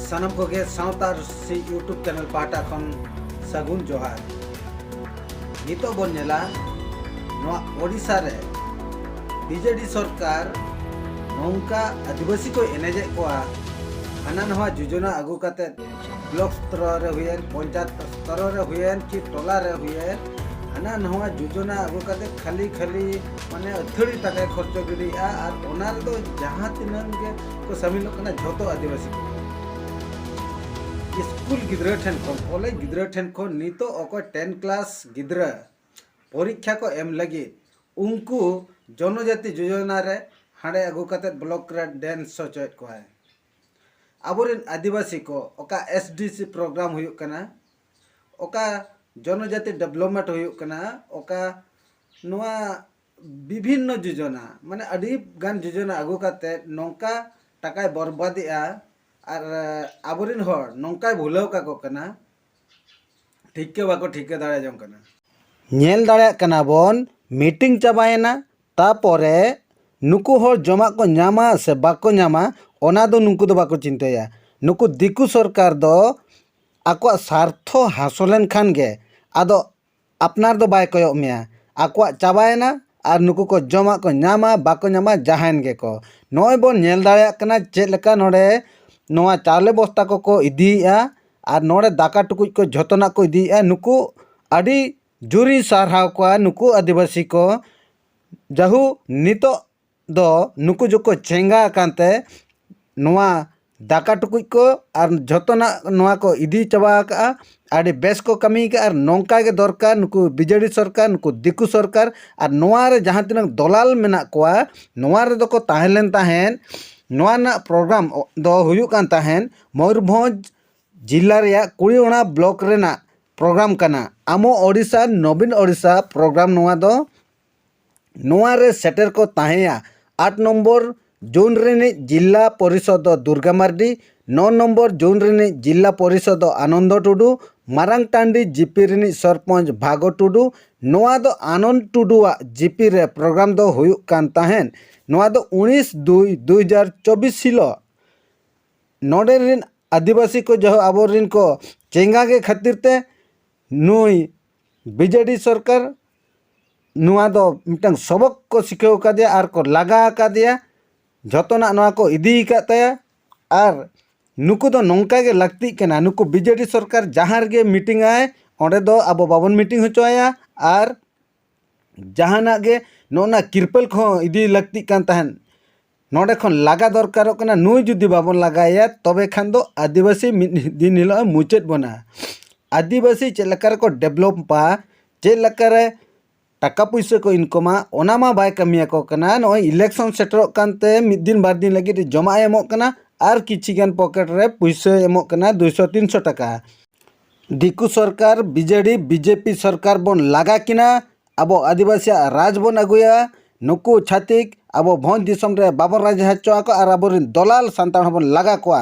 ᱥᱟᱱᱟᱢ ᱠᱚᱜᱮ ᱥᱟᱶᱛᱟ ᱥᱮ ᱭᱩᱴᱩᱵᱽ ᱪᱮᱱᱮᱞ ᱯᱟᱦᱴᱟ ᱠᱷᱚᱱ ᱥᱟᱹᱜᱩᱱ ᱡᱚᱦᱟᱨ ᱱᱤᱛᱚᱜ ᱵᱚᱱ ᱧᱮᱞᱟ ᱱᱚᱣᱟ ᱳᱰᱤᱥᱟ ᱨᱮ ᱵᱤᱡᱮᱰᱤ ᱥᱚᱨᱠᱟᱨ ᱱᱚᱝᱠᱟ ᱟᱹᱫᱤᱵᱟᱹᱥᱤ ᱠᱚ ᱮᱱᱮᱡᱮᱫ ᱠᱚᱣᱟ ᱦᱟᱱᱟ ᱱᱟᱣᱟ ᱡᱳᱡᱚᱱᱟ ᱟᱹᱜᱩ ᱠᱟᱛᱮᱫ ᱵᱞᱚᱠ ᱥᱛᱚᱨᱚ ᱨᱮ ᱦᱩᱭᱮᱱ ᱯᱚᱧᱪᱟᱭᱮᱛ ᱥᱛᱚᱨᱚ ᱨᱮ ᱦᱩᱭᱮᱱ ᱠᱤ ᱴᱚᱞᱟ ᱨᱮ ᱦᱩᱭᱮᱱ ᱦᱟᱱᱟ ᱱᱟᱣᱟ ᱡᱳᱡᱚᱱᱟ ᱟᱹᱜᱩ ᱠᱟᱛᱮ ᱠᱷᱟᱹᱞᱤ ᱠᱷᱟᱹᱞᱤ ᱢᱟᱱᱮ ᱟᱹᱛᱷᱟᱹᱲᱤ ᱴᱟᱠᱟᱭ ᱠᱷᱚᱨᱪᱚ ᱜᱤᱰᱤᱭᱮᱜᱼᱟ ᱟᱨ ᱚᱱᱟ ᱨᱮᱫᱚ ᱡᱟᱦᱟᱸ ᱛᱤᱱᱟᱹᱜ ᱜᱮ ᱠᱚ ᱥᱟᱹᱢᱤᱞᱚᱜ ᱠᱟᱱᱟ ᱡᱷᱚᱛᱚ ᱟᱹᱫᱤᱵᱟᱹᱥᱤ ᱠᱚ ᱥᱠᱩᱞ ᱜᱤᱫᱽᱨᱟᱹ ᱴᱷᱮᱱ ᱠᱷᱚᱱ ᱠᱚᱞᱮᱡᱽ ᱜᱤᱫᱽᱨᱟᱹ ᱴᱷᱮᱱ ᱠᱷᱚᱱ ᱱᱤᱛᱚᱜ ᱚᱠᱚᱭ ᱴᱮᱱ ᱠᱞᱟᱥ ᱜᱤᱫᱽᱨᱟᱹ ᱯᱚᱨᱤᱠᱠᱷᱟ ᱠᱚ ᱮᱢ ᱞᱟᱹᱜᱤᱫ ᱩᱱᱠᱩ ᱡᱚᱱᱚᱡᱟᱛᱤ ᱡᱳᱡᱚᱱᱟ ᱨᱮ ᱦᱟᱸᱰᱮ ᱟᱹᱜᱩ ᱠᱟᱛᱮ ᱵᱞᱚᱠ ᱨᱮ ᱰᱮᱱᱥ ᱦᱚᱪᱚᱭᱮᱫ ᱠᱚᱣᱟᱭ ᱟᱵᱚᱨᱮᱱ ᱟᱹᱫᱤᱵᱟᱹᱥᱤ ᱠᱚ ᱚᱠᱟ ᱮᱥ ᱰᱤ ᱥᱤ ᱯᱨᱳᱜᱨᱟᱢ ᱦᱩᱭᱩᱜ ᱠᱟᱱᱟ ᱚᱠᱟ ᱡᱚᱱᱚᱡᱟᱹᱛᱤ ᱰᱮᱵᱷᱞᱚᱯᱢᱮᱱᱴ ᱦᱩᱭᱩᱜ ᱠᱟᱱᱟ ᱚᱠᱟ ᱱᱚᱣᱟ ᱵᱤᱵᱷᱤᱱᱱᱚ ᱡᱳᱡᱚᱱᱟ ᱢᱟᱱᱮ ᱟᱹᱰᱤ ᱜᱟᱱ ᱡᱳᱡᱚᱱᱟ ᱟᱹᱜᱩ ᱠᱟᱛᱮ ᱱᱚᱝᱠᱟ ᱴᱟᱠᱟᱭ ᱵᱚᱨᱵᱟᱫᱮᱜᱼᱟ ᱟᱨ ᱟᱵᱚᱨᱮᱱ ᱦᱚᱲ ᱱᱚᱝᱠᱟᱭ ᱵᱷᱩᱞᱟᱹᱣ ᱠᱟᱠᱚ ᱠᱟᱱᱟ ᱴᱷᱤᱠᱟᱹ ᱵᱟᱠᱚ ᱴᱷᱤᱠᱟᱹ ᱫᱟᱲᱮ ᱡᱚᱝ ᱠᱟᱱᱟ ᱧᱮᱞ ᱫᱟᱲᱮᱭᱟᱜ ᱠᱟᱱᱟ ᱵᱚᱱ ᱢᱤᱴᱤᱝ ᱪᱟᱵᱟᱭᱮᱱᱟ ᱛᱟᱯᱚᱨᱮ ᱱᱩᱠᱩ ᱦᱚᱲ ᱡᱚᱢᱟᱜ ᱠᱚ ᱧᱟᱢᱟ ᱥᱮ ᱵᱟᱠᱚ ᱧᱟᱢᱟ ᱚᱱᱟ ᱫᱚ ᱱᱩᱠᱩ ᱫᱚ ᱵᱟᱠᱚ ᱪᱤᱱᱛᱟᱹᱭᱟ ᱱᱩᱠᱩ ᱫᱤᱠᱩ ᱥᱚᱨᱠᱟᱨ ᱫᱚ ᱟᱠᱚᱣᱟᱜ ᱥᱟᱨᱛᱷᱚ ᱦᱟᱥᱚᱞᱮᱱ ᱠᱷᱟᱱ ᱜᱮ ᱟᱫᱚ ᱟᱯᱱᱟᱨ ᱫᱚ ᱵᱟᱭ ᱠᱚᱭᱚᱜ ᱢᱮᱭᱟ᱾ ᱟᱠᱚᱣᱟᱜ ᱪᱟᱵᱟᱭᱮᱱᱟ ᱟᱨ ᱱᱩᱠᱩ ᱠᱚ ᱡᱚᱢᱟᱜ ᱠᱚ ᱧᱟᱢᱟ ᱵᱟᱠᱚ ᱧᱟᱢᱟ ᱡᱟᱦᱟᱸᱭᱮᱱ ᱜᱮᱠᱚ᱾ ᱱᱚᱜᱼᱚᱭ ᱵᱚᱱ ᱧᱮᱞ ᱫᱟᱲᱮᱭᱟᱜ ᱠᱟᱱᱟ ᱪᱮᱫ ᱞᱮᱠᱟ ᱱᱚᱰᱮ ᱱᱚᱣᱟ ᱪᱟᱣᱞᱮ ᱵᱚᱥᱛᱟ ᱠᱚᱠᱚ ᱤᱫᱤᱭᱮᱫᱼᱟ ᱟᱨ ᱱᱚᱰᱮ ᱫᱟᱠᱟ ᱴᱩᱠᱩᱡ ᱠᱚ ᱡᱷᱚᱛᱚᱱᱟᱜ ᱠᱚ ᱤᱫᱤᱭᱮᱫᱼᱟ᱾ ᱱᱩᱠᱩ ᱟᱹᱰᱤ ᱡᱳᱨᱤᱧ ᱥᱟᱨᱦᱟᱣ ᱠᱚᱣᱟ ᱱᱩᱠᱩ ᱟᱹᱫᱤᱵᱟᱹᱥᱤ ᱠᱚ ᱡᱟᱦᱳᱠ ᱱᱤᱛᱚᱜ ᱫᱚ ᱱᱩᱠᱩ ᱡᱚᱠᱷᱚᱡ ᱪᱮᱸᱜᱷᱟ ᱟᱠᱟᱱ ᱛᱮ ᱱᱚᱣᱟ ᱫᱟᱠᱟ ᱴᱩᱠᱩᱡ ᱠᱚ ᱟᱨ ᱡᱚᱛᱚᱱᱟᱜ ᱱᱚᱣᱟ ᱠᱚ ᱤᱫᱤ ᱪᱟᱵᱟ ᱠᱟᱜᱼᱟ ᱟᱹᱰᱤ ᱵᱮᱥ ᱠᱚ ᱠᱟᱹᱢᱤ ᱠᱟᱜᱼᱟ ᱟᱨ ᱱᱚᱝᱠᱟ ᱜᱮ ᱫᱚᱨᱠᱟᱨ ᱱᱩᱠᱩ ᱵᱤᱡᱮᱰᱤ ᱥᱚᱨᱠᱟᱨ ᱱᱩᱠᱩ ᱫᱤᱠᱩ ᱥᱚᱨᱠᱟᱨ ᱟᱨ ᱱᱚᱣᱟ ᱨᱮ ᱡᱟᱦᱟᱸ ᱛᱤᱱᱟᱹᱜ ᱫᱚᱞᱟᱞ ᱢᱮᱱᱟᱜ ᱠᱚᱣᱟ ᱱᱚᱣᱟ ᱨᱮᱫᱚ ᱠᱚ ᱛᱟᱦᱮᱸ ᱞᱮᱱ ᱛᱟᱦᱮᱸᱫ ᱱᱚᱣᱟ ᱨᱮᱱᱟᱜ ᱯᱨᱳᱜᱨᱟᱢ ᱫᱚ ᱦᱩᱭᱩᱜ ᱠᱟᱱ ᱛᱟᱦᱮᱸᱫ ᱢᱚᱭᱩᱨᱵᱷᱚᱸᱡᱽ ᱡᱮᱞᱟ ᱨᱮᱭᱟᱜ ᱠᱩᱲᱤ ᱚᱱᱟ ᱵᱞᱚᱠ ᱨᱮᱱᱟᱜ ᱯᱨᱳᱜᱨᱟᱢ ᱠᱟᱱᱟ ᱟᱢᱚ ᱳᱰᱤᱥᱟ ᱱᱚᱵᱤᱱ ᱳᱰᱤᱥᱟ ᱯᱨᱳᱜᱨᱟᱢ ᱱᱚᱣᱟ ᱫᱚ ᱱᱚᱣᱟ ᱨᱮ ᱥᱮᱴᱮᱨ ᱠᱚ ᱛᱟᱦᱮᱸᱭᱟ ᱟᱴ ᱱᱚᱢᱵᱚᱨ ᱡᱳᱱ ᱨᱤᱱᱤᱡ ᱡᱤᱞᱞᱟ ᱯᱚᱨᱤᱥᱚᱫᱽ ᱫᱚ ᱫᱩᱨᱜᱟ ᱢᱟᱨᱰᱤ ᱱᱚ ᱱᱚᱢᱵᱚᱨ ᱡᱳᱱ ᱨᱤᱱᱤᱡ ᱡᱤᱞᱞᱟ ᱯᱚᱨᱤᱥᱚᱫᱽ ᱫᱚ ᱟᱱᱚᱱᱫᱚ ᱴᱩᱰᱩ ᱢᱟᱨᱟᱝ ᱴᱟᱺᱰᱤ ᱡᱤᱯᱤ ᱨᱤᱱᱤᱡ ᱥᱚᱨᱯᱚᱧᱪ ᱵᱷᱟᱜᱚ ᱴᱩᱰᱩ ᱱᱚᱣᱟ ᱫᱚ ᱟᱱᱚᱱᱫᱚ ᱴᱩᱰᱩᱣᱟᱜ ᱡᱤᱯᱤ ᱨᱮ ᱯᱨᱳᱜᱽᱨᱟᱢ ᱫᱚ ᱦᱩᱭᱩᱜ ᱠᱟᱱ ᱛᱟᱦᱮᱸᱫ ᱱᱚᱣᱟ ᱫᱚ ᱩᱱᱤᱥ ᱫᱩᱭ ᱫᱩ ᱦᱟᱡᱟᱨ ᱪᱚᱵᱽᱵᱤᱥ ᱦᱤᱞᱳᱜ ᱱᱚᱰᱮ ᱨᱤᱱ ᱟᱹᱫᱤᱵᱟᱹᱥᱤ ᱠᱚ ᱡᱟᱦᱳᱠ ᱟᱵᱚ ᱨᱤᱱ ᱠᱚ ᱪᱮᱸᱜᱷᱟ ᱜᱮ ᱠᱷᱟᱹᱛᱤᱨ ᱛᱮ ᱱᱩᱭ ᱵᱤᱡᱮᱰᱤ ᱥᱚᱨᱠᱟᱨ ᱱᱚᱣᱟ ᱫᱚ ᱢᱤᱫᱴᱟᱝ ᱥᱚᱵᱚᱠ ᱠᱚ ᱥᱤᱠᱷᱟᱹᱣ ᱠᱟᱫᱮᱭᱟ ᱟᱨ ᱠᱚ ᱞᱟᱜᱟ ᱠᱟᱫᱮᱭᱟ ᱡᱚᱛᱚᱱᱟᱜ ᱱᱚᱣᱟ ᱠᱚ ᱤᱫᱤ ᱠᱟᱜ ᱛᱟᱭᱟ ᱟᱨ ᱱᱩᱠᱩ ᱫᱚ ᱱᱚᱝᱠᱟ ᱜᱮ ᱞᱟᱹᱠᱛᱤᱜ ᱠᱟᱱᱟ ᱱᱩᱠᱩ ᱵᱤᱡᱮᱰᱤ ᱥᱚᱨᱠᱟᱨ ᱡᱟᱦᱟᱸ ᱨᱮᱜᱮ ᱢᱤᱴᱤᱝ ᱟᱭ ᱚᱸᱰᱮ ᱫᱚ ᱟᱵᱚ ᱵᱟᱵᱚᱱ ᱢᱤᱴᱤᱝ ᱦᱚᱪᱚ ᱟᱭᱟ ᱟᱨ ᱡᱟᱦᱟᱱᱟᱜ ᱜᱮ ᱱᱚᱜᱼᱚ ᱱᱟ ᱛᱤᱨᱯᱚᱞ ᱠᱚᱦᱚᱸ ᱤᱫᱤ ᱞᱟᱹᱠᱛᱤᱜ ᱠᱟᱱ ᱛᱟᱦᱮᱸᱫ ᱱᱚᱰᱮ ᱠᱷᱚᱱ ᱞᱟᱜᱟ ᱫᱚᱨᱠᱟᱨᱚᱜ ᱠᱟᱱᱟ ᱱᱩᱭ ᱡᱩᱫᱤ ᱵᱟᱵᱚᱱ ᱞᱟᱜᱟᱭᱮᱭᱟ ᱛᱚᱵᱮ ᱠᱷᱟᱱ ᱫᱚ ᱟᱹᱫᱤᱵᱟᱹᱥᱤ ᱢᱤᱫ ᱫᱤᱱ ᱦᱤᱞᱳᱜ ᱢᱩᱪᱟᱹᱫ ᱵᱚᱱᱟ ᱟᱹᱫᱤᱵᱟᱹᱥᱤ ᱪᱮᱫ ᱞᱮᱠᱟ ᱨᱮᱠᱚ ᱰᱮᱵᱷᱞᱚᱯᱟ ᱪᱮᱫ ᱞᱮᱠᱟ ᱨᱮ ᱴᱟᱠᱟ ᱯᱩᱭᱥᱟᱹ ᱠᱚ ᱤᱱᱠᱟᱢᱟ ᱚᱱᱟ ᱢᱟ ᱵᱟᱭ ᱠᱟᱹᱢᱤᱭᱟᱠᱚ ᱠᱟᱱᱟ ᱱᱚᱜᱼᱚᱭ ᱤᱞᱮᱠᱥᱚᱱ ᱥᱮᱴᱮᱨᱚᱜ ᱠᱟᱱᱛᱮ ᱢᱤᱫ ᱫᱤᱱ ᱵᱟᱨ ᱫᱤᱱ ᱞᱟᱹᱜᱤᱫ ᱡᱚᱢᱟᱜ ᱮ ᱮᱢᱚᱜ ᱠᱟᱱᱟ ᱟᱨ ᱠᱤᱪᱷᱤ ᱜᱟᱱ ᱯᱚᱠᱮᱴ ᱨᱮ ᱯᱩᱭᱥᱟᱹᱭ ᱮᱢᱚᱜ ᱠᱟᱱᱟ ᱫᱩᱭᱥᱚ ᱛᱤᱱᱥᱚ ᱴᱟᱠᱟ ᱫᱤᱠᱩ ᱥᱚᱨᱠᱟᱨ ᱵᱤᱡᱮᱰᱤ ᱵᱤᱡᱮᱯᱤ ᱥᱚᱨᱠᱟᱨ ᱵᱚᱱ ᱞᱟᱜᱟ ᱠᱤᱱᱟ ᱟᱵᱚ ᱟᱹᱫᱤᱵᱟᱹᱥᱤᱭᱟᱜ ᱨᱟᱡᱽ ᱵᱚᱱ ᱟᱹᱜᱩᱭᱟ ᱱᱩᱠᱩ ᱪᱷᱟᱹᱛᱤᱠ ᱟᱵᱚ ᱵᱷᱚᱸᱡᱽ ᱫᱤᱥᱚᱢ ᱨᱮ ᱵᱟᱵᱚᱱ ᱨᱟᱡᱽ ᱦᱚᱪᱚ ᱟᱠᱚᱣᱟ ᱟᱨ ᱟᱵᱚᱨᱮᱱ ᱫᱚᱞᱟᱞ ᱥᱟᱱᱛᱟᱲ ᱦᱚᱸᱵᱚᱱ ᱞᱟᱜᱟ ᱠᱚᱣᱟ